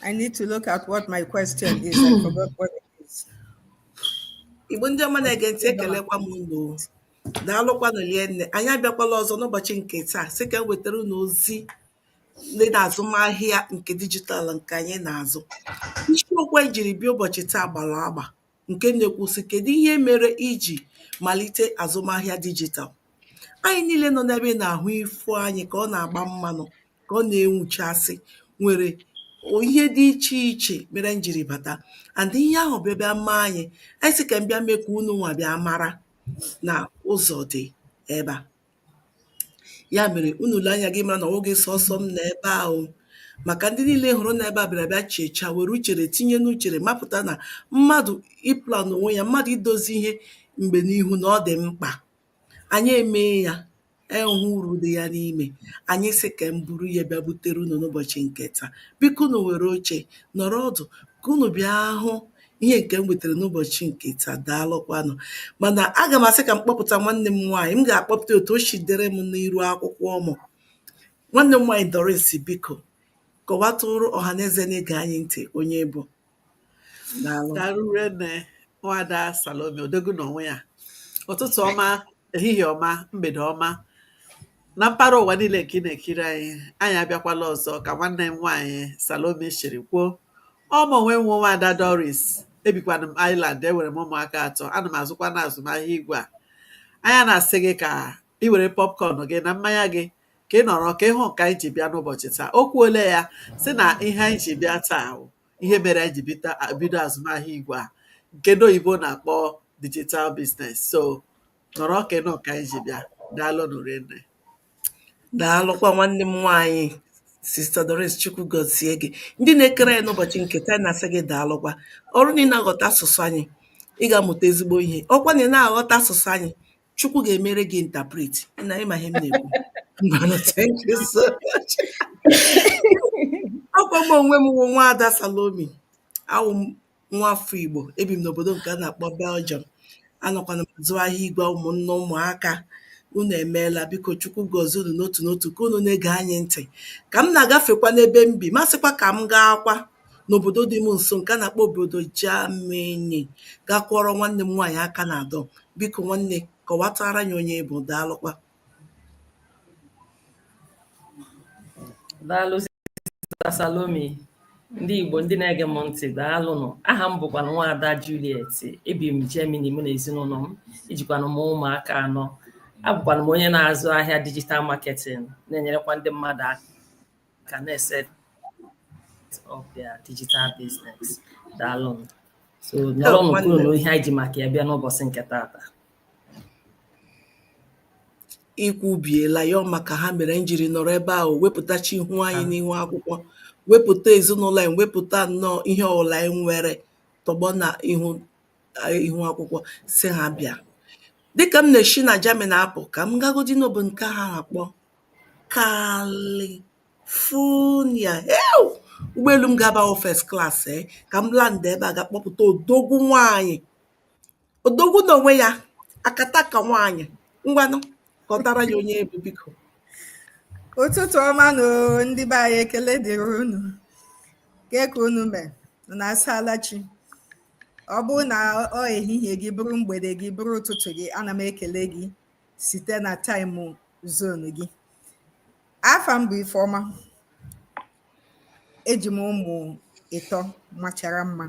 I need to look at what my question is. I forgot what it is. Igbo ndị ọma na-ege ntị ekelekwa m unu daalụkwanụ rienne anyị abịakwala ọzọ n'ụbọchị nke taa sị ka m wetara unu ozi dị n'azụmahịa nke dijitalụ nke anyị na-azụ isiokwu anyị jiri bịa ụbọchị taa gbara agba ǹke na-ekwu sị kèdụ ihe mere ijì màlite àzụmahịa digital anyị̄ niīlē nọ n'ebe ị nà-àhụ ifū anyị̄ kà ọ nà-àgba mmānụ̄ kà ọ nà-enwùchasị nwèrè ihe dị ichè ichè mere ànyị jìrì bàta and ihe ahụ̀ bịa bịa mee anyị̄ ànyị sị kà ànyị bịa mee kà unùnwà bịa mara nà ụzọ̀ dị̀ ebe à Ya mere, unu lee anya ga mara na ọ wụghị sọsọ m nọ ebe ahụ maka ndị niile hụrụ na ebe a bịara bịa chechaa were uchere tinye n'uchere mapụta na mmadụ ịplan onwe ya mmadụ idozi ihe mgbe n'ihu na ọ dị mkpa anyị emee ya ahụ uru dị ya n'ime anyị sị ka m buru ya bịa butere unu n'ụbọchị nke taa biko unu were oche nọrọ ọdụ ka unu bịa hụ ihe nke m wetara n'ụbọchị nke taa daalụkwanụ mana aga m asị ka m kpọpụta nwanne m nwaanyị m ga-akpọpụta otu o si dere m n'iru akwụkwọ mụ nwanne m nwaanyị Doris biko kọwatụrụ ọha na eze na-ege anyị ntị onye ị bụ daalụ daalụ rinne nwada Salome odogwu na onwe ya ụtụtụ ọma ehihie ọma mgbede ọma na mpaghara ụwa niile nke ị na-ekiri anyị anyị abịakwala ọzọ ka nwanne m nwaanyị Salome siri kwuo Ọ mụ onwe m wụ nwaada Doris ebikwana m Ireland enwere m ụmụaka atọ ana m azụkwana azụmahịa igwe a anyị na-asị gị ka ị were popcorn gị na mmanya gị ka ị nọrọ ka ị hụ nke anyị ji bịa n'ụbọchị taa o kwuole ya sị na ihe anyị ji bịa taa bụ ihe mere anyị ji bita- bido azụmahịa igwe a nke ndị oyibo na-akpọ digital business so nọrọ ka ị nụ nke anyị ji bịa daalụnụ rinne Daalụ kwa nwanne m nwaanyị Sista Doris Chukwu gọzie gị. Ndị na-ekiri anyị n'ụbọchị nke taa anyị na-asị gị daalụ kwa. Ọ bụrụ na ị na-aghọta asụsụ anyị, ị ga-amụta ezigbo ihe. Ọ bụkwa na ị na-aghọta asụsụ anyị, Chukwu ga-emere gị interpret na ị ma ihe m na-ekwu. Ngwanụ, thank you so much. Ọ kwa m onwe m wụ nwaada Salome. Awụ m nwa afọ Igbo ebi m n'obodo nke a na-akpọ Belgium anakwana m azụ ahịa igwe ụmụnne ụmụaka unu emeela biko chukwu gọzie unu n'otu n'otu ka unu na-ege anyị ntị ka m na-agafekwa n'ebe m bi m asịkwa ka m gaakwa n'obodo dị m nso nke a na-akpọ obodo Germany gaa kwọrọ nwanne m nwaanyị aka na-adọ biko nwanne kọwatara anyị onye ị bụ daalụkwa daalụ Sister Salome ndị Igbo ndị na-ege m ntị daalụnụ aha m bụkwa nwaada Juliet ebi m Germany mụ na ezinụlọ m ijikwana m ụmụaka anọ abụkwana m onye na-azụ ahịa digital marketing na-enyerekwa ndị mmadụ aka na-eset up their digital business daalụnụ so nọrọnụ kwụrụ nụ ihe anyị ji maka ya bịa n'ụbọchị nke taata i kwubiela ya maka ihe mere anyị jiri nọrọ ebe ahụ wepụtacha ihu anyị n'ihu akwụkwọ wepụta ezinụlọ anyị wepụta nnọọ ihe ọbụla anyị nwere tọgbọ na ihu ihu akwụkwọ sị ha bịa dịka m na-eshi na Germany apụ ka m gagodi n'obodo nke ha na-akpọ California Ew! ụgbọelu m ga-aba wụ first class ee ka m landa ebe a ga-akpọpụta odogwu nwaanyị Odogwu n'onwe ya, akataka nwaanyị. Ngwanụ, kọwatara anyị onye ị bụ biko. Ụtụtụ ọma nụ ndị be anyị ekele dịrị unu ke ka unu mee unu asaala chi ọ bụrụ na ọ ehihie gị bụrụ mgbede gị bụrụ ụtụtụ gị ana m ekele gị site na time zone gị afa m bụ Ifeọma eji m ụmụ ịtọ machara mma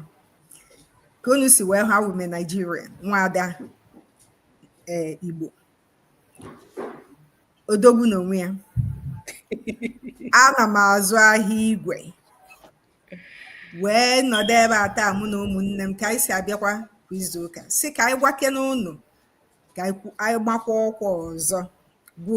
ka unu si wee hụ awụ m naijiria nwaada ee igbo odogwu n'onwe ya ana m azụ ahịa igwe wee nọdụ ebe a taa mụ na ụmụnne m ka anyị si abịakwa kwa izu ụka sị ka anyị gwakene unu ka anyị gbakwa ọkwa ọzọ bụ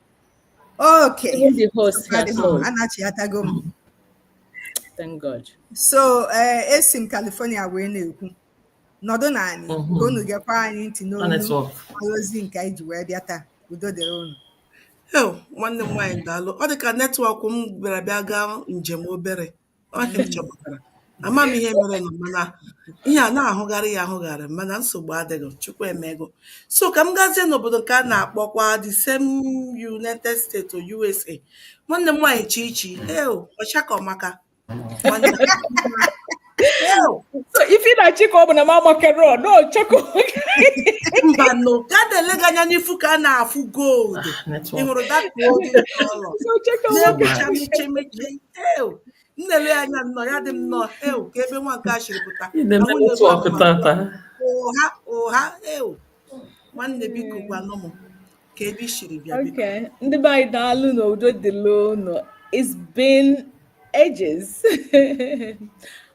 Okay. Even the host has sold. Anachiatago m. Thank God. So, uh, esi m California wee na-ekwu. Nọdụnụ anị ka mm-hmm. unu gekwa anyị ntị n'olu ozi nke anyị ji wee bịa taa. Udo dịrị unu. Hee, nwanne m nwaanyị daalụ. Ọ dị ka network m bịara bịa gaa njem obere. ama m ihe merenụ mana ihe a na-ahụgharị ya ahụgharị mana nsogbu adịghị chukwu emego so ka m gazie n'obodo nke a na-akpọkwa the same United States or USA nwanne m nwaanyị Chichi eo ọchakọmaka ife na chika ọ bụ na m amakere ọdọ chọkọ mba no ka a na-ele gị anya n'ifu ka a na-afụ gold ah, ị hụrụ that na-egbucha meche meche eu m na-ele ya anya nnọọ ya dị m nnọọ eu ka ebe nwa nke a siri pụta Ị na-eme Ahụ na-ebe network ọkụ ma tata. ụgha ụgha eu nwanne biko gwanụ m ka ebe i siri bịa biko Okay, ndị be anyị daalụnụ udo dịlụ unu. It's been ages.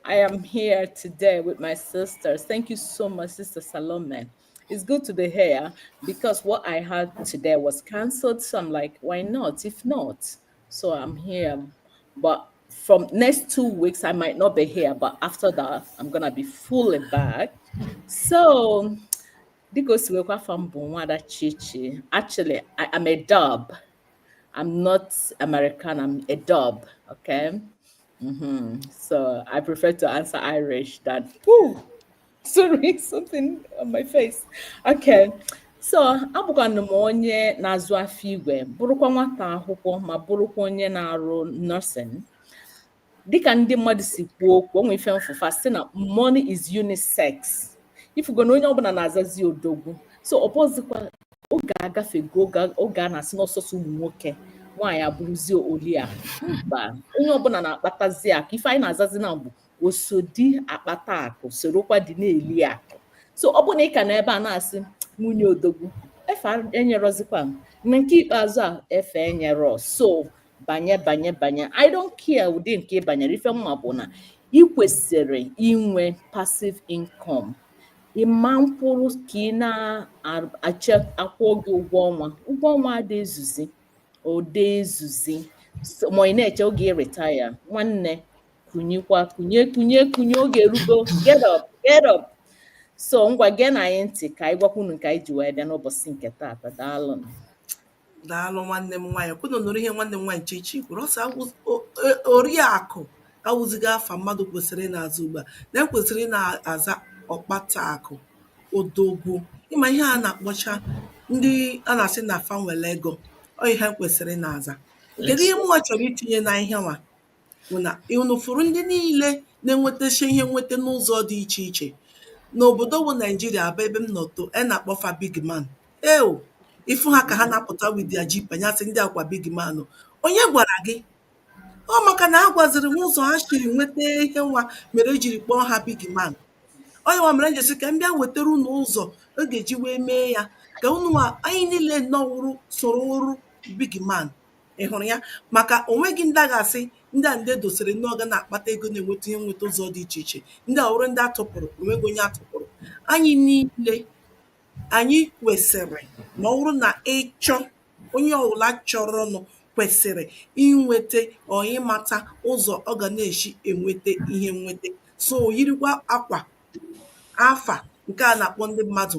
I am here today with my sisters. Thank you so much, Sister Salome. It's good to be here because what I had today was cancelled. So I'm like, why not? If not, So I'm here, but from next two weeks I might not be here, but after that I'm gonna be fully back. So dịka o si wekwa afọ m bụ nwada chichi actually I, am a dub I'm not American I'm a dub okay Mm-hmm. So I prefer to answer Irish than, ooh, sorry, something on my face. Okay. so abụkwanụ m onye na-azụ afịa igwe bụrụkwa nwata akwụkwọ ma bụrụkwa onye na-arụ nursing dịka ndị mmadụ si kwuo okwu o nwe ife m fụ fa sị na money is unisex ị fụgo na onye ọbụla na-azazi odogwu so ọ bụzikwa oge agafego oge a na-asị na ọ sọsọ ụmụ nwoke nwaanyị abụrụzie oliakụ mba onye ọbụla na-akpatazi akụ ife anyị na-azazi na mbụ osodi akpata akụ sorokwa di na-eli akụ so ọ bụrụ na ị ka nọ ebe a na-asị nwunye odogwu efe enyerọzikwa na nke ikpeazụ a efe enyerọ so banye banye banye i don't care ụdị nke ị banyere ife m ma bụ na ị kwesịrị inwe passive income ị ma nkwụrụ ka ị na-eche a kwụọ gị ụgwọ ọnwa ụgwọ ọnwa ada ezuzi ọ da ezuzi ma ị na-eche oge ị retire nwanne kunyekwa kunye kunye kunye oge erugo get up get up so ngwa geenụ anyị ntị ka anyị gwakwuo unu nke anyị ji wee bịa n'ụbọsị nke taata daalụnụ daalụ nwanne m nwaanyị kwa unu nụrụ ihe nwanne m nwaanyị chichi kwuru ọ sị oriakụ awụzighị afa mmadụ kwesịrị na-aza ugbu a na e kwesịrị na-aza ọkpata akụ odogwu ị ma ihe a na-akpọcha ndị a na-asị na fa nwere ego ọ ihe kwesịrị na-aza kedu ihe mụnwa chọrọ itinye na ihe nwa bụ na unu fụrụ ndị niile na-enwetacha ihe nweta n'ụzọ dị iche iche n'obodo bụ Naijiria bụ ebe m nọ too a na-akpọ fa big man eo ị fụ ha ka ha na-apụta with their jeep anyị asị ndị a kwa big man o. onye gwara gị ọ maka na a gwaziri m ụzọ ha siri nweta ihe nwa mere e jiri kpọọ ha big man ọ ihe nwa mere m ji sị ka m bịa wetara unu ụzọ ọ ga-eji wee mee ya ka unu nwa anyị niile nọwụrụ soro wụrụ big man ị hụrụ ya maka onweghị ndị a ga-asị ndị a ndị e dosiri na ọ ga na-akpata ego na-enweta ihe nweta ụzọ dị iche iche ndị a wụrụ ndị a tụpụrụ onweghị onye a tụpụrụ anyị niile anyị kwesịrị ma ọ bụrụ na ị chọọ onye ọbụla chọrọnụ kwesịrị inweta ọ ịmata ụzọ ọ ga na-esi enweta ihe nweta so yirikwa akwa afa nke a na-akpọ ndị mmadụ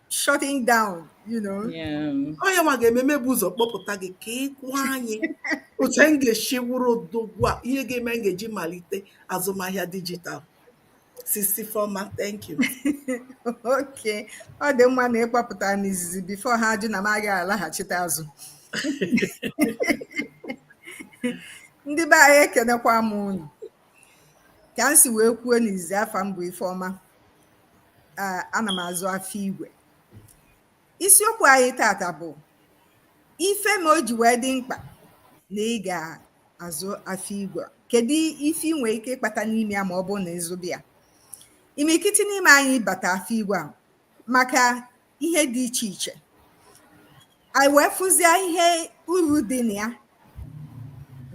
shutting down, you know. Yeah. Ọ ihe nwa ga-eme m ebu ụzọ kpọpụta gị ka ị kwụọ anyị otu anyị ga-esi wụrụ odogwu a ihe ga-eme anyị ga-eji malite azụmahịa dijitalụ. Sis Ifeọma, thank you. okay. Ọ dị mma na ị kpọpụta n'izizi before ha ajụ na m agaghị alaghachite azụ. Ndị be anyị ekenekwa m unu. Ka m si wee kwuo n'izizi afa m bụ Ifeọma. eh, ana m azụ afọ igwe isiokwu anyị tata bụ ife ma o ji wee dị mkpa na ị ga-azụ afọ igwe kedu ife ị nwere ike ịkpata n'ime ya ma ọ bụrụ na ị zụba ya imirikiti n'ime anyị bata afọ igwe a maka ihe dị iche iche anyị wee fụzie ihe uru dị na ya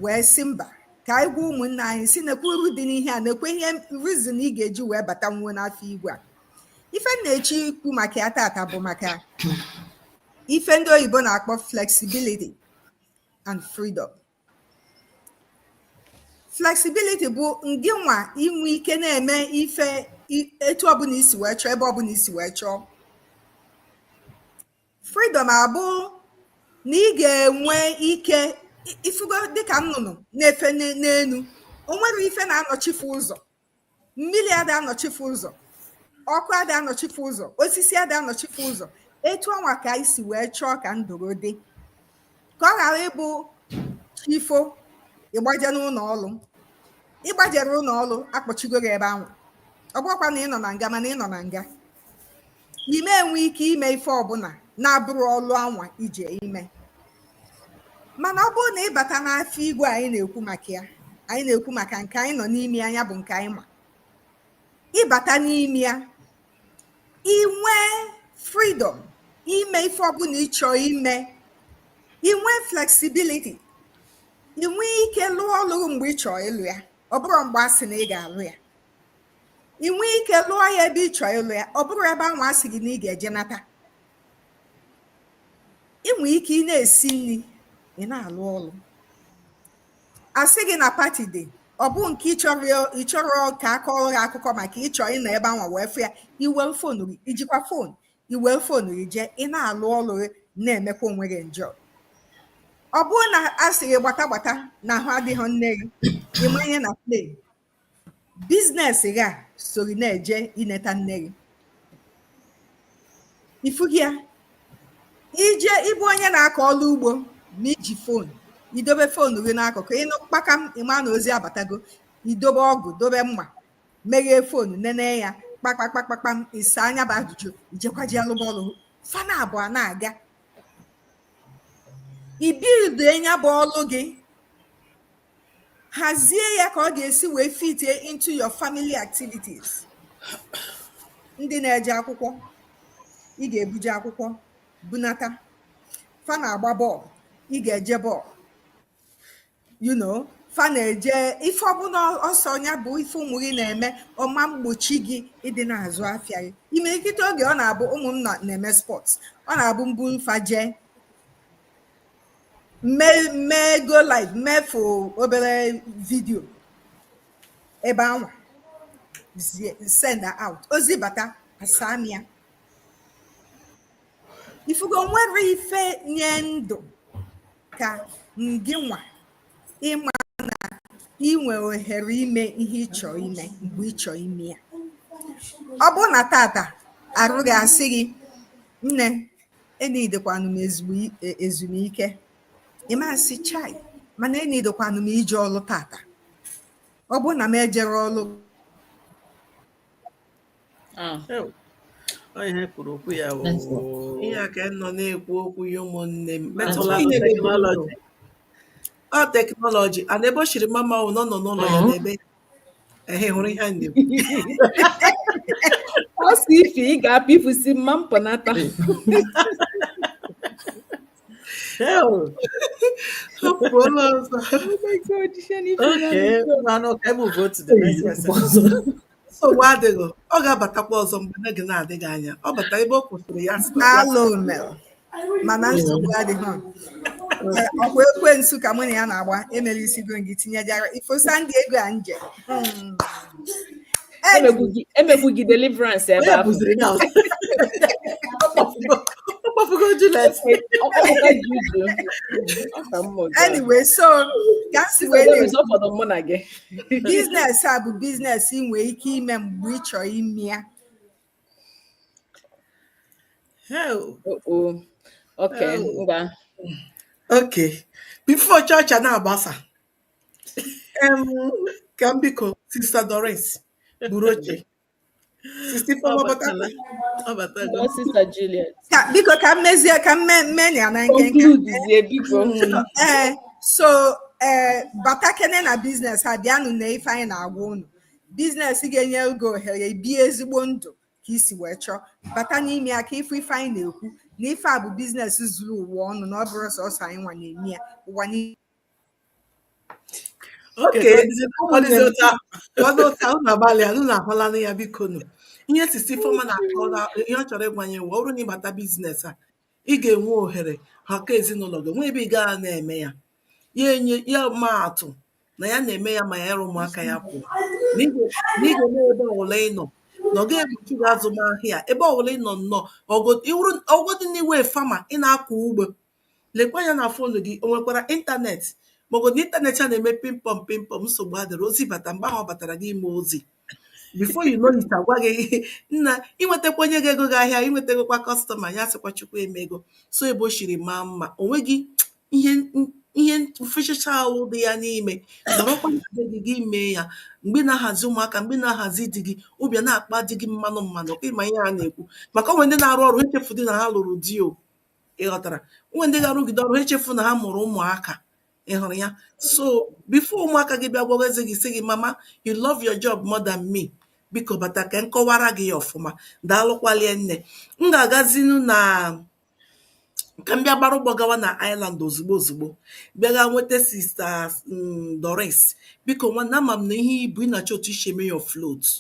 wee sị mba ka anyị gwa ụmụnna anyị sị nekwe uru dị n'ihe a nekwe ihe reason ị ga-eji wee batanwuo n'afọ igwe a ife m na-eche ikwu maka ya tata bụ maka ife ndị oyibo na-akpọ flexibility and freedom flexibility bụ ngị nwa inwe ike na-eme ife i- etu ọbụla i si wee chọọ ebe ọbụla i si wee chọọ freedom abụ na ị ga-enwe ike i- ị fụgo dịka nnụnụ na-efe n'e- n'elu o nwere ife na-anọchi fa ụzọ mmili ada anọchi fa ụzọ ọkụ ada anọchi fa ụzọ osisi ada anọchi fa ụzọ etu ọnwa ka anyị si wee chọọ ka ndụ gị dị ka ọ ghara ịbụ chi fo ị gbaje n'ụlọ ọrụ ị gbajere ụlọ ọrụ a kpọchigo gị ebe ahụ ọ bụrọkwa na ị nọ na nga mana ị nọ na nga ị ma enwe ike ime ife ọbụla na-abụrọ ọlụ anwa ị je ime mana ọ bụrụ na ị bata n'afọ igwe anyị na-ekwu maka ya anyị na-ekwu maka nke anyị nọ n'ime ya ya bụ nke anyị ma ị bata n'ime ya i nwee freedom ime ife ọbụla ị chọọ ime i nwee flexibility i nwe ike lụọ ọlụ mgbe ị chọọ ịlụ ya ọ bụrọ mgbe a sị na ị ga-alụ ya i nwe ike lụọ ya ebe ị chọọ ịlụ ya ọ bụrọ ebe ahụ a sị gị na ị ga-eje nata i nwe ike ị na-esi nri ị na-alụ ọlụ a sị gị na party dị ọ bụ nke ị chọrọ ya- ị chọrọ ka a kọọrọ gị akụkọ maka ị chọọ ịnọ ebe ahụ wee fụ ya i we fonu gị i jikwa fonu i we fonu gị jee ị na-alụ ọlụ gị na-emekwa onwe gị enjoy ọ bụrụ na a sị gị gbata gbata na ahụ adịghị nne gị ị banye na plane biznes gị a sori na-eje ineta nne gị ifughị ya ije ịbụ onye na-akọ ọrụ ugbo na iji fon idobe fon gị n'akụkụ ịnụ kpakam ịma na ozi abatago idobe ọgụ dobe mma meghee fon nene ya kpakpakpakpakpam ịsaa nya bụ ajụjụ ijekwaji alụba ọlụ fa na abụọ na-aga i build nya bụ ọlụ gị hazie ya ka ọ ga-esi wee fit into your family activities ndị na-eje akwụkwọ ị ga-ebuje akwụkwọ bunata fa na-agba bọọlụ ị ga-eje bọọlụ you know fa na-eje ife ọbụna ọ sọ ya bụ ife ụmụ gị na-eme ọ ma mgbochi gị ịdị na-azụ afịa gị imirikiti oge ọ na-abụ ụmụ m na-eme spọts ọ na-abụ m buru fa jee m mee go live mefu obere vidio ebe anwa sendie out ozi bata asaa m ya ifugo o nwere ife nye ndụ ka ngị nwa ịma na inwe ohere ime ihe ịchọ ime mgbe ịchọ ime ya ọ bụrụ na tata arụ gị asị gị nne enidekwanụ m ezumike ị ma sị chai mana enidekwanụ m ije ọlụ tata ọ bụrụ na m ejere ọlụ ah. ihe e kwuru okwu ya ihe a ka a nọ na-ekwu okwu ya ụmụnne m metụla teknọlọji ọ teknọlọji ana ebe o chiri mama nọ nọ n'ụlọ ya mm-hmm. n'ebe ehe hụrụ ihe anyị na-ekwu ọ sị ife ị ga-apụ ifusi mma mpụnata hapụọla ọzọ oke mmanụ ka ebe ugo to the next person nsogbu adịghị ọ ga-abatakwa ọzọ mgbe n'oge na-adịghị anya ọ bata ebe ọ kwụsịrị ya sị na ya Alone. mana nsogbu adịghị ọ kwa ekwensu ka mụ na ya na-agba emere isi go gị tinyejara ifosa ndị ego a nje hmm. emegbu gị deliverance ebe ahụ ọ kpọfugo Juliet anyway so ka si wee ọ fọdụ mụ na gị biznes a bụ biznes ị nwee ike ime mgbe ị chọrọ ime ya Hell. Uh-oh. Okay, Hell. ngwa. Okay. Before church a na-agbasa, em, ka m biko Sista Doris buru oche. Sista Ọ Ifeoma batala. batala. Ọ batago. Ọ sista Juliet. Ka- biko ka m mezie ka m mee- mee ya na nkenke Concludezie biko. Mm. ee so ee batakene na biznes a bịanụ na ife anyị na-agwa unu biznes ga-enye gị ohere bie ezigbo ndụ ka i si wee chọọ bata n'ime ya ka ife ife anyị na-ekwu na ife a bụ biznes zuru ụwa ọnụ na ọ bụrọ sọsọ anyị nwa na-eme ya ụwa niile unu agbalịa unu ahụlanụ ya bikonụ ihe sista Ifeoma na-akọrọ ihe ọ chọrọ ịgwa anyị nwa ọ bụrụ na ị bata biznes a ị ga-enwe ohere maka ezinụlọ gị nwee ebe ị ga na-eme ya ya enye ya ma atụ na ya na-eme ya ma ya ịrụ ụmụaka ya pụọ na ị ga-eme ebe ọbụla ị nọ na ọ ga-egbochi gị azụmahịa ebe ọbụla ị nọ nnọọ ọ bụgodi na ị wụ fama ị na-akọ ugbo lekwa anya na fon gị o nwekwara ịntanetị maọbụ na ịntanetị a na-eme pịmpọm pịmpọm nsogbu adịrọ ozi bata mgbe ahụ ọ batara gị i mee ozi before you know it a gwa gị na i nwetakwa onye ga-ego gị ahịa i nwetakwa kọstọma ya sịkwa chukwu emego so ebe o shiri maa mma o nweghị ihe ihe mfechacha ahụ dị ya n'ime nọrọkwa na be gị gị mee ya mgbe ị na-ahazi ụmụaka mgbe ị na-ahazi di gị obi a na-akpa di gị mmanụ mmanụ ọ kwa ị ma ihe a na-ekwu maka o nwe ndị na-arụ ọrụ echefudị na ha lụrụ di o ị ghọtara o nwe ndị ga-arụgide ọrụ echefu na ha mụrụ ụmụaka ị hụrụ ya so before ụmụaka gị bịa gwawazie gị sị gị mama you love your job more than me biko bata ka m kọwara gị ya ọfụma daalụkwalie nne m ga-agazinu na ka m bịa gbara ụgbọ gawa na Ireland ozugbo ozugbo bịa gaa nweta sista mm, Doris biko nwanne ama m na ihe ibu ị na-achọ otu i si eme ya float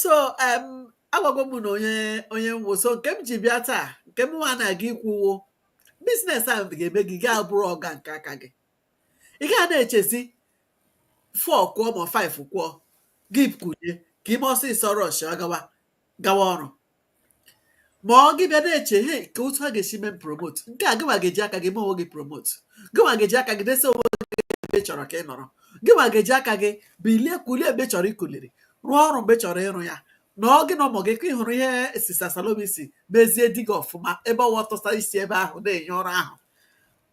so em agwago m unu onye onye m wụ so nke m ji bịa taa nke m nwa na-aga ikwu wụ biznes ahụ ga-eme gị gaa bụrụ ọga nke aka gị ị gaghị na-echezi four kụọ ma five kụọ gị kunie ka i mee ọsịsọ rush gawa gawa ọrụ ma ọ gị bịa na-eche he ka otu a ga-esi mee m promote nke a gịnwa ga-eji aka gị mee onwe gị promote gịnwa ga-eji aka gị desa onwe gị ebe ị chọrọ ka ị nọrọ gịnwa ga-eji aka gị bilie kulie mgbe ị chọrọ ikuliri rụọ ọrụ mgbe ị chọrọ ịrụ ya na ọ gị na ụmụ gị ka ị hụrụ ihe sista Salome sị mezie di gị ọfụma ebe ọwa tụsa isi ebe ahụ na-enye ọrụ ahụ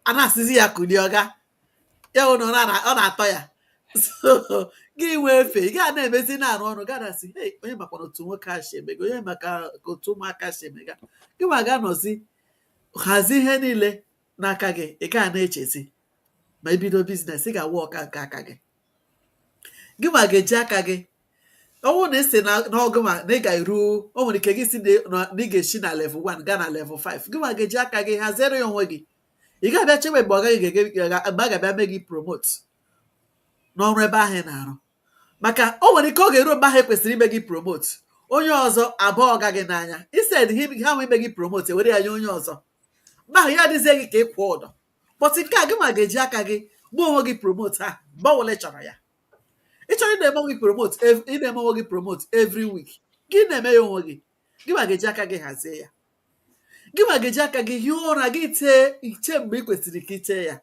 a na-asịzi ya kulie ọga ya hụ na ọ na- ọ na-atọ ya so gị nwee efe ị gaa na-emezi na-arụ ọrụ gaa na-asị hey onye makwa na otu nwoke a si emega onye maka ka otu ụmụaka si emega gị nwa ga-anọzi hazie ihe niile n'aka gị ị gaa na-echezi ma i bido business ị ga-awụ ọga nke aka gị gị nwa ga-eji aka gị ọ bụrụ na ị sị na- na ọ gị nwa na ị ga-eru o nwere ike gị sị na na ị ga-esi na level 1 gaa na level 5 gị nwa ga-eji aka gị haziere ya onwe gị ị ga-abịa chewe mgbe ọga gị ga-eme gị ga- mgbe a ga-abịa mee gị promote n'ọrụ ebe ahụ ị na-arụ maka o nwere ike ọ ga-eru mgbe ahụ e kwesịrị ime gị promote onye ọzọ abaa ọga gị n'anya instead ha nwe ime gị promote e were ya nye onye ọzọ mgbe ahụ ya adịzie gị ka ị kwụọ ụdọ but nke a gị nwa ga-eji aka gị mee onwe gị promote ahụ mgbe ọbụla ị chọrọ ya ị chọrọ ị na-eme onwe gị promote ị na-eme onwe gị promote every week gị na-eme ya onwe gị gị nwa ga-eji aka gị hazie ya gị nwa ga-eji aka gị hie ụra gị tee ị tee mgbe ị kwesịrị ka ị tee ya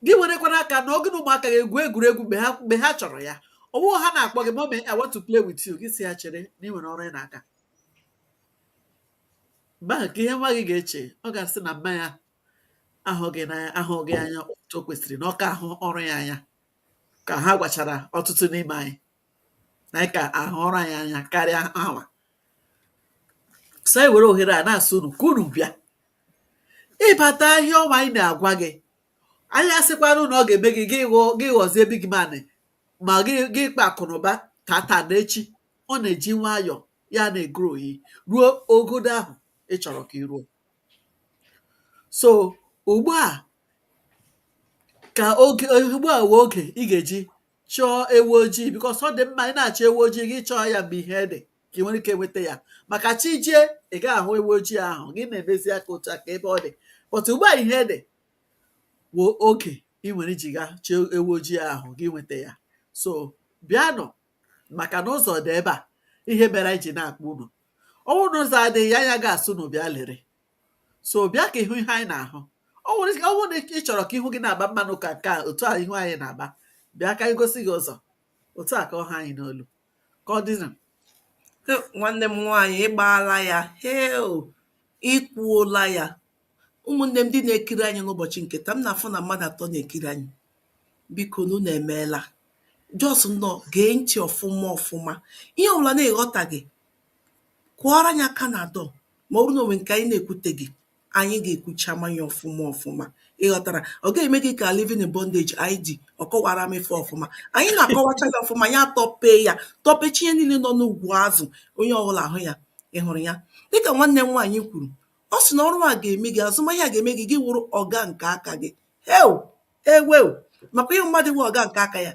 gị werekwana aka nọ gị na ụmụaka gị egwu egwuregwu mgbe ha mgbe ha chọrọ ya ọ bụghị ha na-akpọ gị mummy I want to play with you gị sị ya chere na ị nwere ọrụ ị na-aga mgbe ahụ ka ihe nwa gị ga-eche ọ ga-asị na mama ya ahụghị n'anya ahụghị anya otu o kwesịrị na ọ ka ahụ ọrụ ya anya ka ha gwachara ọtụtụ n'ime anyị anyị ka ahụ ọrụ anyị anya karịa ha nwa so anyị were ohere a na-asị unu ka unu bịa ịbata ihe ọma anyị na-agwa gị anyị asịkwanụ na ọ ga-eme gị gị ghọọ gị ghọzie big man ma gị gị kpaa akụnụba tata na echi ọ na-eji nwayọọ ya na-egrow ị ruo ogodo ahụ ị chọrọ ka ị ruo so ugbu a ka oge ugbu a wụ oge ị ga-eji chọọ ewu ojii because ọ dị mma ị na-achọ ewu ojii gị chọọ ya mgbe ihe dị ka ị nwere ike nweta ya maka chi jie ị gaghị ahụ ewu ojii ahụ gị na-emezi aka otu a ka ebe ọ dị but ugbu a ihe dị wụ oge ị nwere iji gaa chọọ ewu ojii ahụ gị nweta ya so bịanụ maka na ụzọ dị ebe a ihe mere anyị ji na-akpọ unu ọ wụ na ụzọ adịghị ya anyị agaghị asị unu bịa lere so bịa ka ị hụ ihe anyị na-ahụ ọ bụrụ na ị chọrọ ka ihu gị na-agba mmanụ ka nke a otu a ihu anyị na-agba bịa ka anyị gosi gị ụzọ otu a ka ọ ha anyị n'olu ka ọ dịnụ He, nwanne m nwaanyị ị gbaala ya heo i kwuola ya ụmụnne m ndị na-ekiri anyị n'ụbọchị nke taa m na-afụ na mmadụ atọ na-ekiri anyị bikonu unu emeela just nọ gee ntị ọfụma ọfụma ihe ọbụla na-eghọtaghị kụọrọ anyị aka na dọ ma ọ bụrụ na o nwe nke anyị na-ekwuteghị anyị ga-ekwuchama ya ọfụma ọfụma ịghọtara ọ ga-eme gị ka living in bondage Andy ọ kọwara m ife ọfụma anyị na-akọwacha ya ọfụma ya tọpee ya tọpecha ihe niile nọ n'ugwu azụ onye ọbụla ahụ ya ị hụrụ ya dịka nwanne m nwaanyị kwuru ọ sị na ọrụ a ga-eme gị azụmahịa ga-eme gị gị wụrụ ọga nke aka gị heo Ewew! Maka ihe mmadụ wụ ọga nke aka ya.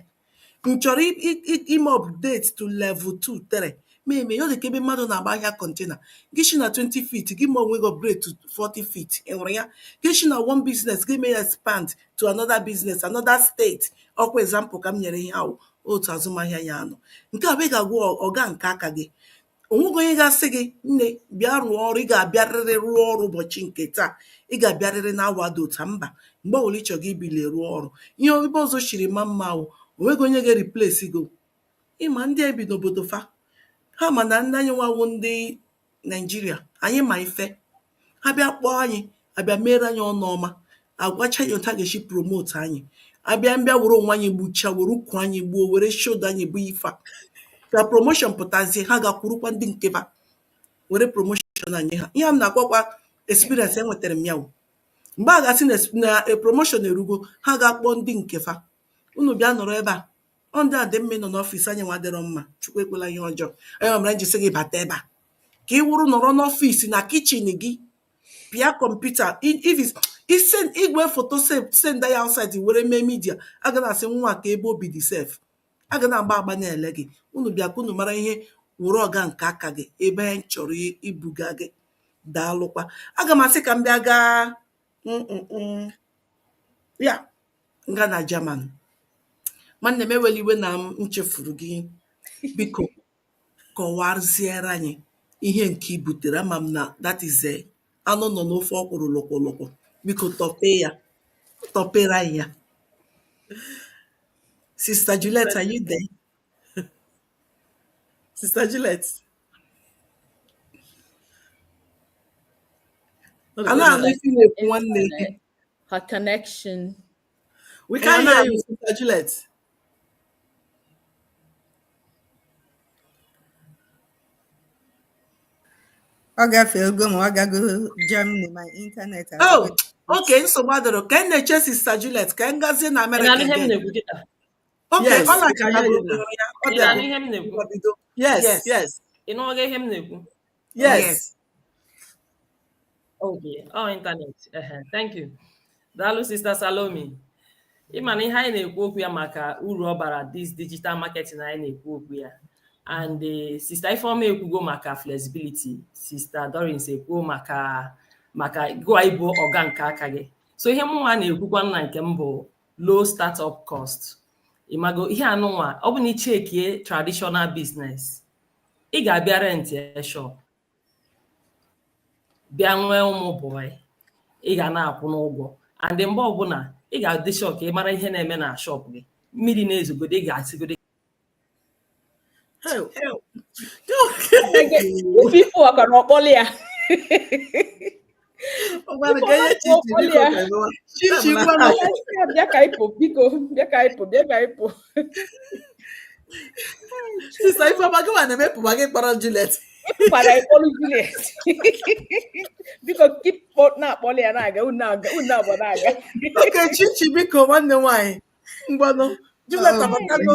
M chọrọ i- i- i- ime update to level 2 3 ma eme ya ọ dị ka ebe mmadụ na-agba ahịa kọntena gị shi na 20 feet gị mee onwe gị upgrade to 40 feet ị hụrụ ya gị shi na one business gị mee ya expand to another business another state ọkwa example ka m nyere ihe ahụ otu azụmahịa ya anọ nke a bụ ị ga-awụ ọga nke aka gị o nweghị onye ga-asị gị nne bịa rụọ ọrụ ị ga-abịarịrị rụọ ọrụ ụbọchị nke taa ị ga-abịarịrị na awa dị otu a mba mgbe ọbụla ị chọrọ gị ebilie rụọ ọrụ ihe ebe ọzọ shiri maa mma wụ o nweghị onye ga-replace gị ị ma ndị a bi n'obodo fa ha ma na ndị anyịnwa wụ ndị naijiria anyị ma ife ha bịa kpọọ anyị abịa mere anyị ọnụ ọma agwacha anyị otu a ga-esi promote anyị abịa mbịa were onwe anyị gbuchaa were ukwu anyị gbuo were shoulder anyị buo ife a ka promotion pụtazie ha gakwurukwa ndị nke fa were promotion nye ha ihe a m na-akọkwa experience enwetara m ya wụ mgbe a ga-asị na promotion erugo ha ga-akpọ ndị nke fa unu bịa nọrọ ebe a ọ ndị a dị mma ịnọ n'ọfịs anyịnwa adịrọ mma chukwu ekwela ihe ọjọọ onye ọmara njisi gị bata ebe a ka ị wụrụ nọrọ n'ọfịs na kichin gị pịa kọmputa ise igwe foto send ya outside were mee midia a ga na-asị nwa ka ebe o bi dị sef a ga na-agba agba na-ele gị unu bịa ka unu mara ihe wụrụ ọga nke aka gị ebe anyị chọrọ ibuga gị daalụkwa aga m asị ka m bịa gaa ya m gaa na German. Nwanne m ewela iwe na m chefuru gị. Biko kọwaziere anyị ihe nke i butere. Ama m na that is eh, anụ nọ n'ofe ọkwụrụ lụkwụlụkwụ. Biko tọpee ya, tọpere anyị ya. Sista Juliet, are you there? Sista Juliet. Ọ A dịkwa na-anụ ife na-ekwu nwanne gị. Her connection. We can't hear you, Sister Juliet. ọ gafego ma ọ gago Germany ma ịntanetị oh okay nsogbu adịrọ ka m na-eche sista Juliet ka m gazie na Amerịka okay ọ na-aka ya ọ bịa yes yes ị na-ekwu Yes. yes. Okay. Oh, internet. Uh -huh. Thank you. Dalu Sister Salome. ịma na ihe anyị na-ekwu okwu ya maka uru ọ bara dis digital marketing anyị na-ekwu okwu ya and eh, sista Ifeoma ekwugo maka flexibility sista Dorins ekwuo maka maka gụwa ịbụ ọga nke aka gị so ihe mụnwa na-ekwukwa na nke m bụ low startup cost ịmago ihe anụnwa ọ bụ na ị checkie traditional business ị ga-abịa rentịa shop bịa nwee ụmụ bọị ị ga na-akwụ n'ụgwọ and mgbe ọbụla ị ga-adị shop ka ị mara ihe na-eme na shop gị mmiri na-ezogode ị ga-asịgode Help. Help. Help. People are gonna call ya. bịa ka ịpụ biko bịa ka ịpụ bịa ka ịpụ sista ifeọma gị nwana emepụba gị kpọrọ Juliet ịkpara ịkpọrọ Juliet biko kipọ na-akpọli ya na-aga unu abụọ na-aga okay Chichi biko nwanne m nwaanyị ngwanụ Juliet abatanụ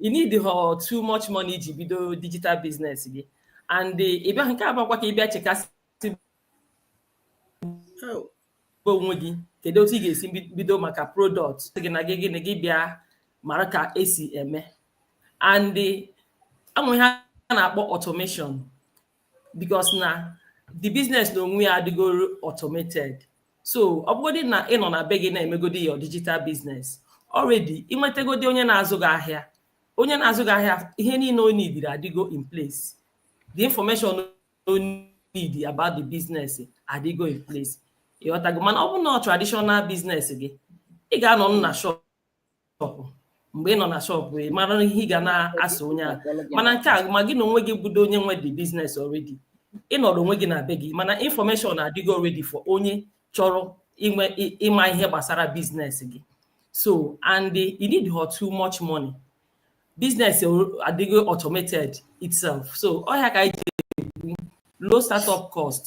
ị needhọ too much money iji bido digital business gị and ị bịa nke abakwa ka ị bịa chekasị onwe gị kedu otu ị ga-esi bido maka product gị na gịnị gị bịa mara ka esi eme and e nwe ihe a na-akpọ automation because na the business na onwe ya adịgoro automated so ọ bụgodị na ị nọ na be gị na-emegodi your digital business already ị nwetegodi onye na-azụ gị ahịa onye na-azụ gị ahịa ihe niile o needịrị adịgo in place the information o need about the business adịgo in place ị ghọtago mana ọ bụrụ na ọ traditional business gị ị ga-anọ na shop shọpụ mgbe ị nọ na shọpụ ị mara ihe ị ga na-asa onye a mana nke a ma gị na onwe gị bụdo onye nwe the business already ị nọrọ onwe gị na be gị mana information adịgo already for onye chọrọ ịma ihe gbasara biznes gị so and ị needhọ too much money biznes adịgo automated itself so ọ ya ka anyị ji ekwu low startup cost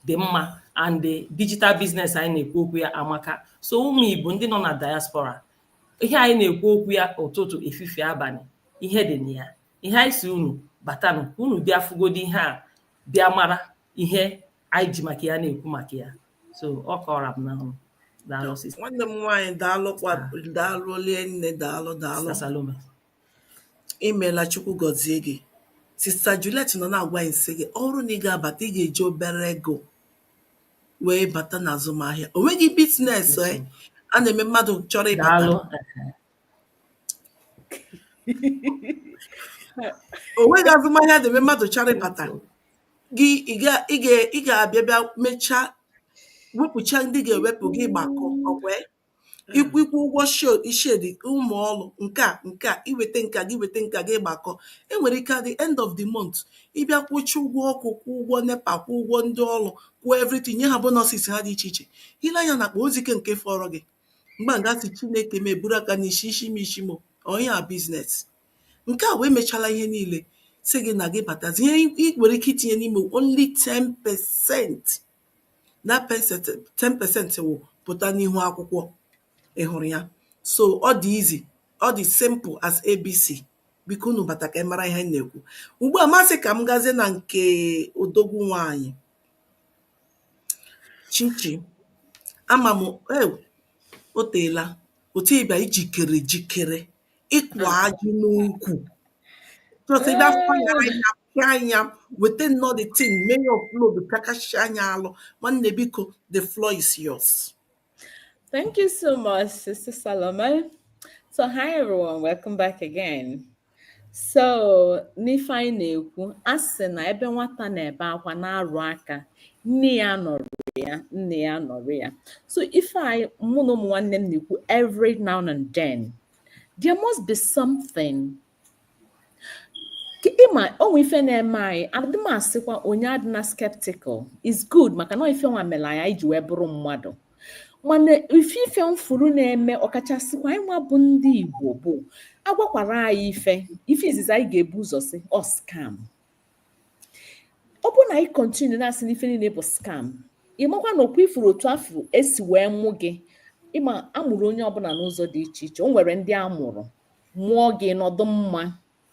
dị mma and the digital business anyị na-ekwu okwu ya amaka so ụmụ Igbo ndị nọ na diaspora ihe anyị na-ekwu okwu ya ụtụtụ efifie abalị ihe dị na ya ihe anyị si unu batanụ unu bịa fụgodi ihe a bịa mara ihe anyị ji maka ya na-ekwu maka ya so ọ ka ọ ra m n'ọnụ daalụ sista nwanne m nwaanyị daalụkwa daalụ olie nne daalụ daalụ sista salome imeela chukwu gọzie gị sista Juliet nọ na-agwa anyị sị gị ọ bụrụ na ị ga-abata ị ga-eji obere ego wee bata n'azụmahịa o nweghị biznes eh, a na-eme mmadụ chọrọ ịbata daalụ o nweghị azụmahịa a na-eme mmadụ chọrọ ịbata gị ị ga ị ga ị ga-abịa bịa mechaa wepụcha ndị ga-ewepụ gị gbakọ ọkwa ya? ịkwụ ịkwụ ụgwọ shed shed ụmụ ọrụ nke a nke a iweta nke a gị weta nke a gị gbakọ e nwere ike at the end of the month ị bịa kwụcha ụgwọ ọkụ kwụ ụgwọ nepa kwụ ụgwọ ndị ọrụ kwụọ everything nye ha bonuses ha dị iche iche i lee anya n'akpa ozike nke fọrọ gị mgbe a gasị chineke m eburu aka n'isi isi m isi m onye a business Nke a bụ emechala ihe niile sị gị na gị batazi ihe i nwere ike itinye n'ime only 10% na 10% wụ pụta n'ihu akwụkwọ ị hụrụ ya so ọ dị easy ọ dị simple as abc biko unu bata ka ị mara ihe m na-ekwu ugbu a m asị ka m gazie na nke odogwu nwaanyị chichi ama m ew o teela otu ị bịa i jikere jikere ịkwa ajị n'ukwu chọta ebe afọ ya anya pịa anya weta nnọọ the thing mee ya upload pịakachi anya alụ nwanne biko the floor is yours Thank you so much, Sister Salome. So, hi everyone, welcome back again. So, n'ife anyị na-ekwu, a sị na ebe nwata na-ebe akwa na-arụ aka, nne ya anọrọ ya, nna ya nọrọ ya. So, ife anyị mụ na ụmụ nwanne m na-ekwu every now and then, there must be something ị ma o nwe ife na-eme anyị adị m asịkwa onye adịna skeptical is good maka na ife nwa mere anyị ji wee bụrụ mmadụ mana ife ife m fụrụ na-eme ọkachasịkwa anyị nwa bụ ndị Igbo bụ agwakwara anyị ife ife izizi anyị ga-ebu ụzọ sị ọ oh, scam ọ bụrụ na anyị continue na-asị n'ife niile bụ scam ị makwa na ọkwa ị fụrụ otu afụ e si wee mụ gị ị ma a mụrụ onye ọbụla n'ụzọ dị iche iche o nwere ndị a mụrụ mụọ gị nọdụ mma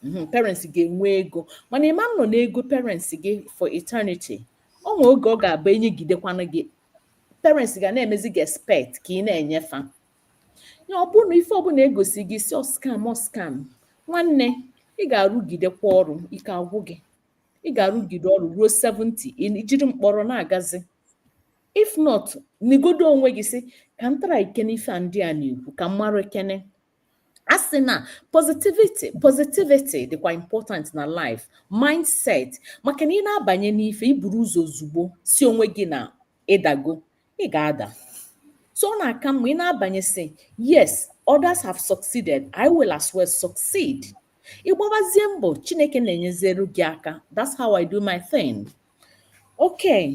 mhm, parents ga-enwe ego mana ị ma-anọ n'ego parents gị for eternity o nwee oge ọ ga-abụ enyegidekwana gị parents ga na-emezi gị expect ka ị na-enye fa ya ọ bụrụ na ife ọbụla e gosi gị ị sị ọ scam ọ scam nwanne ị ga-arụgidekwa ọrụ ike agwụ gị ị ga-arụgide ọrụ ruo 70 ị jiri mkpọrọ na-agazi if not nigodo onwe gị sị ka m try kene ife a ndị a na-ekwu ka m marakene a sị na positivity positivity dịkwa important na life mindset maka na ị na-abanye n'ife i buru ụzọ ozugbo sị onwe gị na ị dago ị ga-ada so ọ na-aka mma ị na-abanye sị yes others have succeeded I will as well succeed ị gbabazie mbọ Chineke na-enyezere gị aka that's how I do my thing okay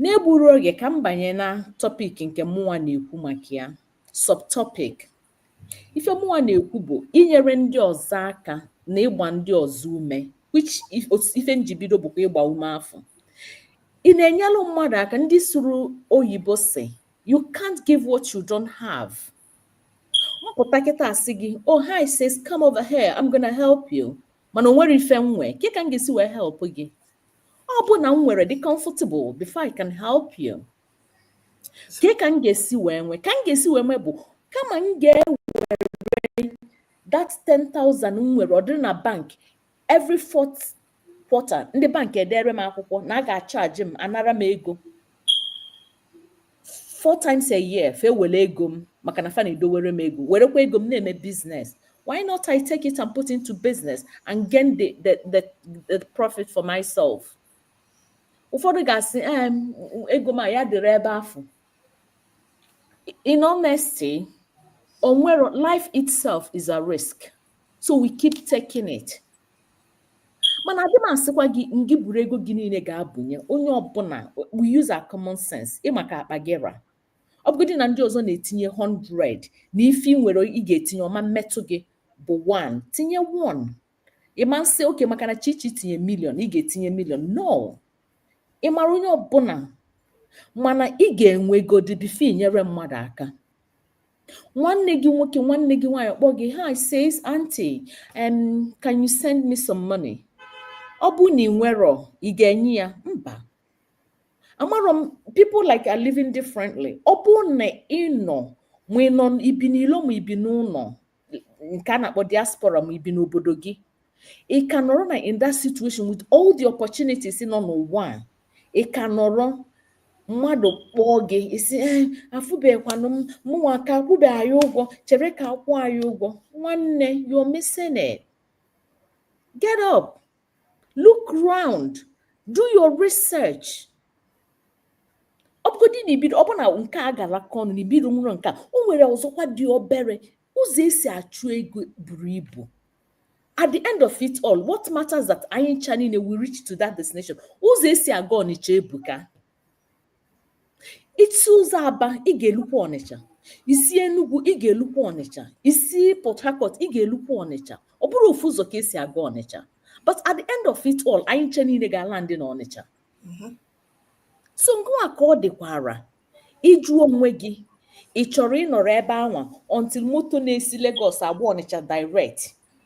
n'egburo oge ka m banye na topic nke mụnwa na-ekwu maka ya subtopic ife mụnwa na-ekwu bụ inyere ndị ọzọ aka na ịgba ndị ọzọ ume which ife m ji bido bụkwa ịgba ume afụ ị na-enyelụ mmadụ aka ndị sụrụ oyibo sị you can't give what you don't have m pụta kịta asị gị oh hi sis come over here I'm gonna help you mana o nwerọ ife m nwe ke ka m ga-esi wee help gị ọ bụ na m nwere dị comfortable before I can help you ke ka m ga-esi wee nwee ka m ga-esi wee nwee bụ kama m ga-ewere that 10,000 m nwere ọ dịrị na bank every fourth quarter ndị bank edere m akwụkwọ na a ga-achaji m anara m ego four times a year fa ewere ego m maka na fa na-edowere m ego werekwa ego m na-eme business why not I take it and put into business and gain the, the, the, the profit for myself ụfọdụ ga-asị ee ego m ya dịrị ebe afụ in honesty onwere life itself is a risk so we keep taking it mana adị m asịkwa gị ngị buru ego gị niile gaa bunye onye ọbụla we use our common sense ị ma ka akpa gị ra ọ bụgodị na ndị ọzọ na-etinye 100 na ife ị nwere ị ga-etinye ọ ma mmetụ gị bụ 1 tinye 1 ị ma asị okay maka na chichi tinye million ị ga-etinye million no ị mara onye ọbụla mana ị ga-enwe godi before i nyere mmadụ aka nwanne gị nwoke nwanne gị nwaanyị kpọọ gị hi sis aunty um, can you send me some money ọ bụ na ị nwerọ ị ga-enye ya mba amarọ m people like are living differently ọ bụ na ị nọ ma ị nọ i bi n'ilo ma i bi n'ụlọ nke a na-akpọ diaspora ma i bi n'obodo gị ị ka nọrọ na in that situation with all the opportunities nọ n'ụwa a ị ka nọrọ mmadụ kpọọ gị ị sị eh, afụbekwanụ m mụnwa ka akwụbe anyị ụgwọ chere ka a kwụọ anyị ụgwọ nwanne you're missing it get up look round do your research ọ bụgodị na ibido ọ bụ na nke a garaka ọnụ na i bidonwurọ nke a o nwere ọzọkwa dị obere ụzọ e si achụ ego buru ibu at the end of it all what matters that anyị ncha niile we reach to that destination ụzọ e si aga ọnịcha ebuka i si ụzọ aba ị ga-elukwa ọnịcha i si enugwu ị ga-elukwa ọnịcha i si port harcourt ị ga-elukwa ọnịcha ọ bụrọ ofu ụzọ ka e si aga ọnịcha but at the end of it all anyị ncha niile ga-alandị na ọnịcha so ngịwa ka ọ dịkwara ịjụ onwe gị ị chọrọ ịnọrọ ebe anwa until moto na-esi Lagos agba ọnịcha direct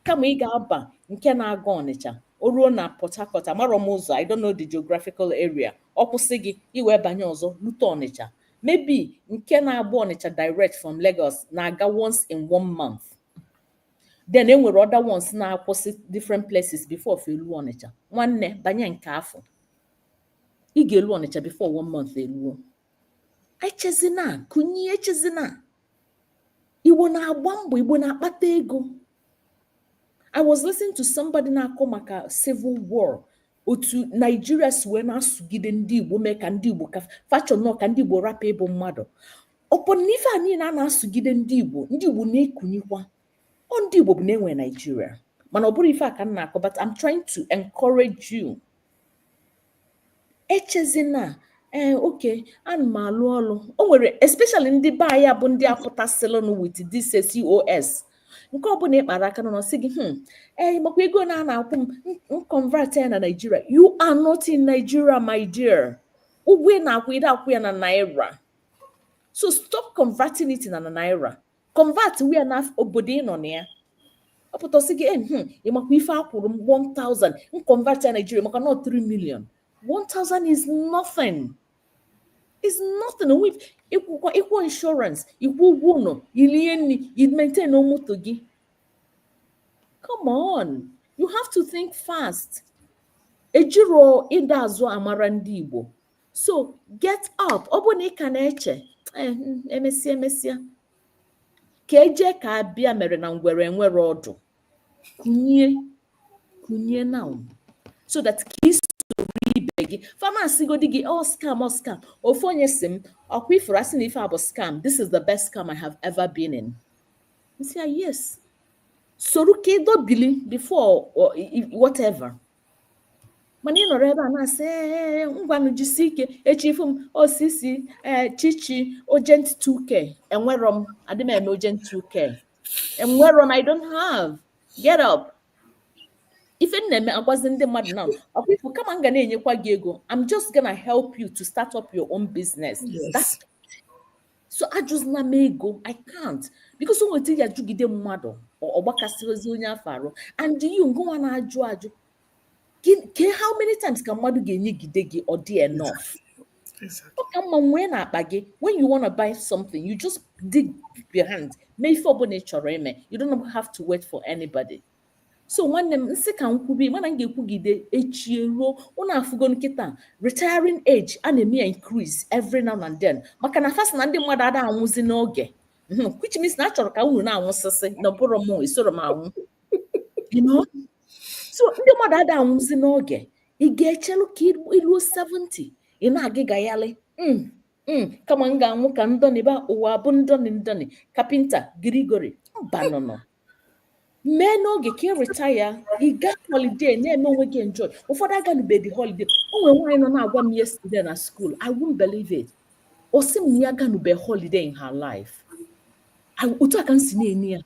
kama ị ga-aba nke na-aga Ọnịcha o ruo na Port Harcourt amarọ m ụzọ I don't know the geographical area ọ kwụsị gị i wee banye ọzọ lute Ọnịcha maybe nke na-agba Ọnịcha direct from Lagos na-aga once in one month then e nwere other ones na-akwụsị different places before fa eluo Ọnịcha nwanne banye nke afụ i ga-elu Ọnịcha before one month eluo echezina kunie echezina igbo na-agba mbọ igbo na-akpata ego i was listening to somebody na-akọ maka civil war otu naijiria si wee na-asụgide ndị igbo mee ka ndị igbo ka fa chọ nnọọ ka ndị igbo rapụ ịbụ mmadụ upon na ife a niile a na-asụgide ndị igbo ndị igbo na-ekunikwa ọ ndị igbo bụ na-enwe naijiria mana ọ bụrọ ife a ka m na-akọ but I'm trying to encourage you echezina ee eh, okay ana m alụ ọlụ o nwere especially ndị be anyị bụ ndị apụtasịlụnụ with this COS nke ọbụna ị kpara aka n'ọnụ ọ sị gị hmm ee eh, makwa ego na a na-akwụ m convert ya na Nigeria you are not in Nigeria my dear ụgwọ ị na-akwụ ị dị akwụ ya na naira so stop converting it na naira convertuo ya na obodo ị nọ na ya ọ pụta sị gị eh, hmm, ị makwa ife a kwụrụ m 1000 m convert ya Nigeria maka na ọ 3 million 1000 is nothing is nothing ị kwụọ insurance ị kwụọ ụgwọ ụnọ i lie nni i maintainuo moto gị come on you have to think fast ejiro ịda azụ amara ndị Igbo so get up ọ bụrụ na ị ka na-eche eh, hmm, emesịa emesịa ka eje ka abịa mere na ngwere enwerọ ọdụ kunie kunie now so that ka i soro ibe gị fa na-asịgodi gị ọ scam ọ scam ofu onye sị m ọkwa ị fụrụ a sị na ife a bụ scam this is the best scam i have ever been in m sị ya yes soro ka ị dọbili before whatever mana ị nọrọ ebe a na-asị ee ngwanụ jisi ike echi ị fụ m ị sị ee chichi urgent 2k enwerọ m adị m eme urgent 2k enwerọ m i don't have get up ife m na-eme agwazi ndị mmadụ na ọkwa ị fụ kama m ga na-enyekwa gị ego i'm just gonna help you to start up your own business Yes. That's so ajụzina m ego i can't because o nwe etu ị ya-ajụgide mmadụ ọ gbakasịrịzie onye afụ arụ and you ngịnwa na-ajụ ajụ ke how many times ka mmadụ ga-enyegide gị ọ dị enough ọ ka mma nwee na akpa gị when you wanna buy something you just dig your hand mee ife ọbụna ị chọrọ ime you don't have to wait for anybody so nwanne m nsị ka m kwubi mana m ga-ekwugide echi eruo unu afụgo kịta retiring age a na-eme ya increase every now and then maka na fa sị na ndị mmadụ ada anwụzi n'oge mhm, which means na a chọrọ ka unu na-anwụsịsị na ọ bụrụ m esoro m anwụ so ndị mmadụ ada anwụzi n'oge ị ga-echelu ka i luo 70 ị na-aga ịgagharị mm, mm, kama m ga-anwụ ka m dọlịba ụwa bụ ndọlị ndọlị carpenter Gregory mbanụnụ mee n'oge ka ị retire ị gaa holiday na-eme onwe gị enjoy ụfọdụ aganubedi holiday o nwere nwaanyị nọ na-agwa m yesterday na school I won't believe it ọ sị m na ya aganube holiday in her life I- otu a ka m si na-ene ya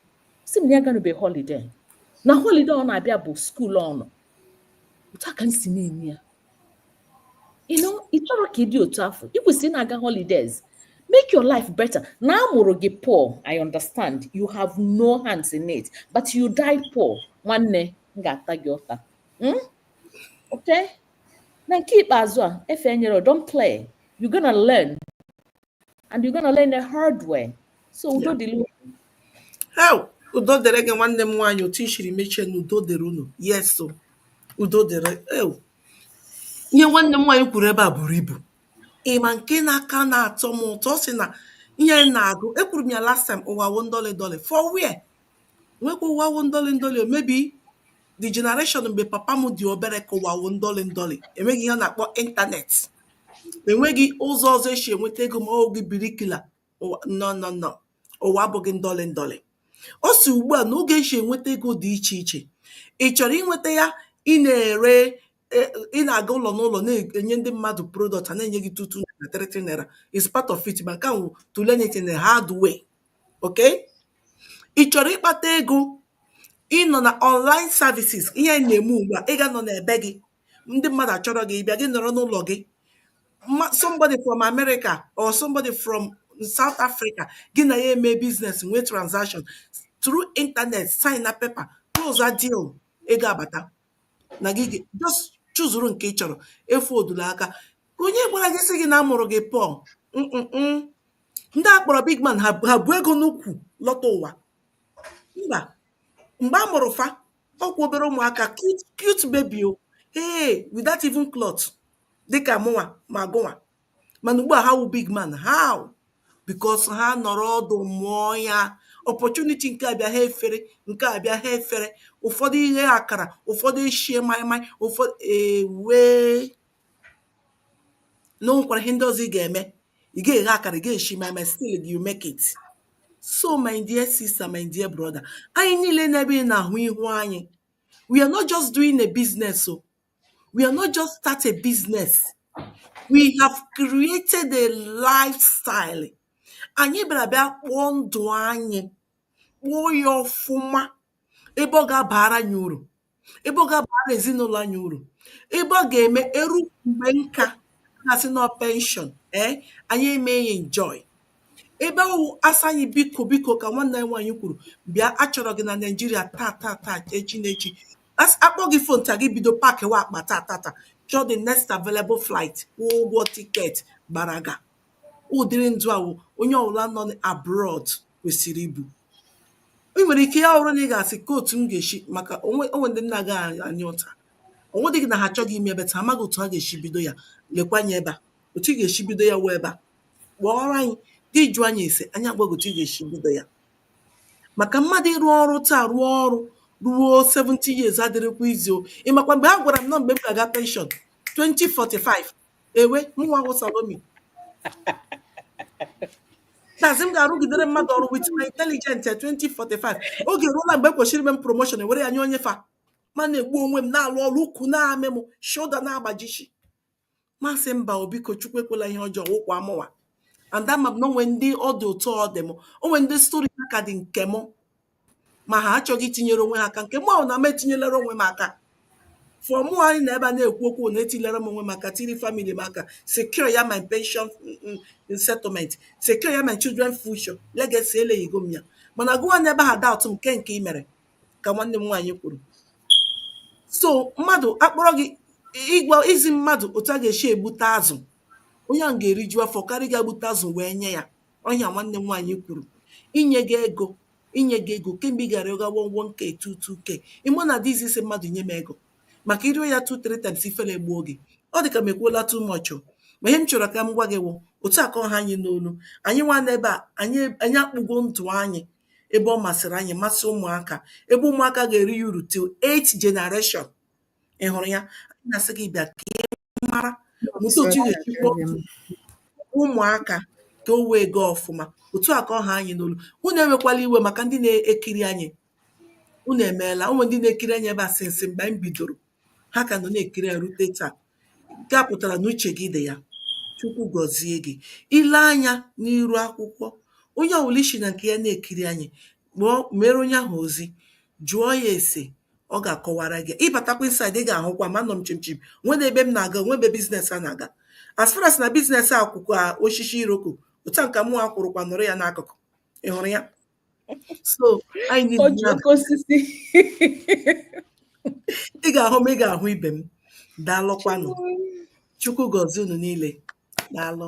sị m na ya aganube holiday na holiday ọ na-abịa bụ school ọnụ otu a ka m si na-ene ya you know ị chọrọ ka ị dị otu afụ i kwesịrị ịna-aga holidays make your life better na a mụrụ gị poor i understand you have no hands in it but you die poor nwanne m ga-ata gị ụta hmm? okay na nke ikpeazụ a efe enyere don't play you gonna learn and you're gonna learn the hard way so udo dịrị unu hee, udo dịrị gị nwanne m nwaanyị otu i shiri mechie na udo dịrị unu yes o, udo dịrị ew. ihe nwanne m nwaanyị kwuru ebe a buru ibu ị ma nke na-aka na-atọ m ụtọ ọ sị na ihe m na-agụ ekwuru m ya last time ụwa wụ ndọlị ndọlị for where nwekwa ụwa wụ ndọlị ndọlị o maybe the generation mgbe papa m dị obere ka ụwa wụ ndọlị ndọlị enweghị ihe a na-akpọ internet enweghị ụzọ ọzọ e si enweta ego ma ọ wụghị bricklayer no no no ụwa abụghị ndọlị ndọlị ọ sị ugbu a na oge e si enweta ego dị iche iche ị chọrọ inweta ya ị na-ere e, ị na-aga ụlọ n'ụlọ na-enye ndị mmadụ product a na-enye gị two two na three three naira is part of it ma nke ahụ to learn it in a hard way okay ị chọrọ ịkpata ego ị nọ na online services ihe na-eme ugbu a ị ga-anọ n'ebe gị ndị mmadụ achọrọ gị bịa gị nọrọ n'ụlọ gị somebody from America or somebody from South Africa gị na ya eme business nwee transaction through internet sign na paper close a deal ego abata na gị ga- just chuzuru nke ị chọrọ efoldula aka onye gwara gị sị gị na a mụrụ gị poor Mm-mm-mm. ndị a kpọrọ big man ha ha bu ego n'ukwu lọta ụwa mba mgbe a mụrụ fa ọ kwa obere ụmụaka cute cute baby o ee without even cloth dịka mụnwa ma gụnwa mana ugbu a ha wụ big man how because ha nọrọ ọdụ mụọ ya opportunity nke abịa ha efere nke abịa ha efere ụfọdụ eghe akara ụfọdụ eshie maịmaị ụfọdụ ewee na o nwekwara ihe ndị ọzọ ị ga-eme ị ga-eghe akara ị ga-eshi maịmaị still you make it so my dear sister my dear brother anyị niile n'ebe ị na-ahụ ihu anyị we are not just doing a business o We are not just start a business. We have created a lifestyle. Anyị bịara bịa kpụọ ndụ anyị, kpụọ ya ọfụma, ebe ọ ga-abara anyị uru, ebe ọ ga-abara ezinụlọ anyị uru, ebe ọ ga-eme e ru mgbe nka na-asị na ọ pension, ee, anyị eme ya enjoy. Ebe ọ wụ a sị anyị biko biko ka nwanne anyị nwaanyị kwuru, bịa a chọrọ gị na Naịjirịa taa taa taa echi na echi A kpọọ gị phone taa gị bido pakiwa akpa taa tata chọọ the next available flight kwụọ ụgwọ tiketi gbaraga ụdịrị ndụ ahụ onye ọbụla nọ abroad kwesịrị ibi ị nwere ike ya wụrụ na ị ga-asị kee otu m ga-esi maka o nwe o nwe ndị m na-agaghị ata ụta ọ wụdịghị na ha achọghị ime but ha amaghị otu ha ga-esi bido ya lekwanye ebe a otu ị ga-esi bido ya wụ ebe a kpọọrọ anyị gị jụọ anyị ese anyị agwa gị otu ị ga-esi bido ya maka mmadụ ịrụ ọrụ taa rụọ ọrụ ruo 70 years adịghịkwa easy o ị makwa mgbe a gwara m na mgbe m ga-aga pension 2045 ewe mụnwa wụ Salomi that is m ga-arụgidere mmadụ ọrụ with my intelligent 2045 oge eruola mgbe e kwesịrị ime m promotion e were ya nye onye fa mụ ana-egbu onwe m na-alụ ọrụ ukwu na-amị m shoulder na-agbajichi m asị mba o biko Chukwu ekwela ihe ọjọọ wụkwa mụnwa and ama m na o nwe ndị ọ dị otu ọ dị m o nwe ndị story ha kadị nke m ma ha achọghị itinyere onwe ha aka nke m wụ na m etinyelere onwe m aka for mụ ịnọ ebe a na-ekwu okwu na etinyere m onwe m aka tiiri family m aka secure ya my pension mm, mm, mm, settlement secure ya my children future legacy elayigo m ya mana gụwa nọ ebe a doubt m kee nke i mere ka nwanne m nwaanyị kwuru so mmadụ akpọrọ gị ịgwa izi mmadụ otu a ga-esi egbute azụ onye ahụ ga-eriju afọ karịa ịga gbute azụ wee nye ya ọ ihe nwanne m nwaanyị kwuru inye gị ego inye gị ego kee mgbe ị ga-arịọga one one k two two k ị ma na ọ dịghị easy ịsị mmadụ nye m ego maka ị rịọ ya two three times ifere egbuo gị ọ dị ka m ekwuola too much o ma ihe m chọrọ ka m gwa gị wụ otu a ka ọ ha anyị n'olu anyị nwa nọ ebe a anyị anyị akpụgo ndụ anyị ebe ọ masịrị anyị masị ụmụaka ebe ụmụaka ga-eri ya uru till eight generation ị hụrụ ya anyị na-asị gị bịa ka ị mara mụta otu ị ga-esi kpọọ ụmụaka ka o wee gaa ọfụma otu a ka ọ ha anyị n'olu unu ewekwala iwe maka ndị na-ekiri anyị unu emeela ụmụ ndị na-ekiri anyị ebe a since mgbe anyị bidoro Ha ka nọ na-ekiri ya rute taa. Nke a pụtara na uche gị dị ya. Chukwu gọzie gị. I lee anya n'iru akwụkwọ, onye ọbụla i si na nke ya na-ekiri anyị, meere onye ahụ ozi, jụọ ya ese, ọ ga-akọwara gị. Ị batakwa inside, ị ga-ahụkwa m, anọ m chim chim, o nweghị ebe m na-aga, o nweghị ebe biznes a na-aga. As far as na biznes a kwụ ka osisi iroko, otu a ka mụnwa kwụrụkwa nọrọ ya n'akụkụ. Ị hụrụ ya? so anyị, ị ga-ahụ m ị ga-ahụ ibe m daalụkwanụ chukwu gọzie unu niile daalụ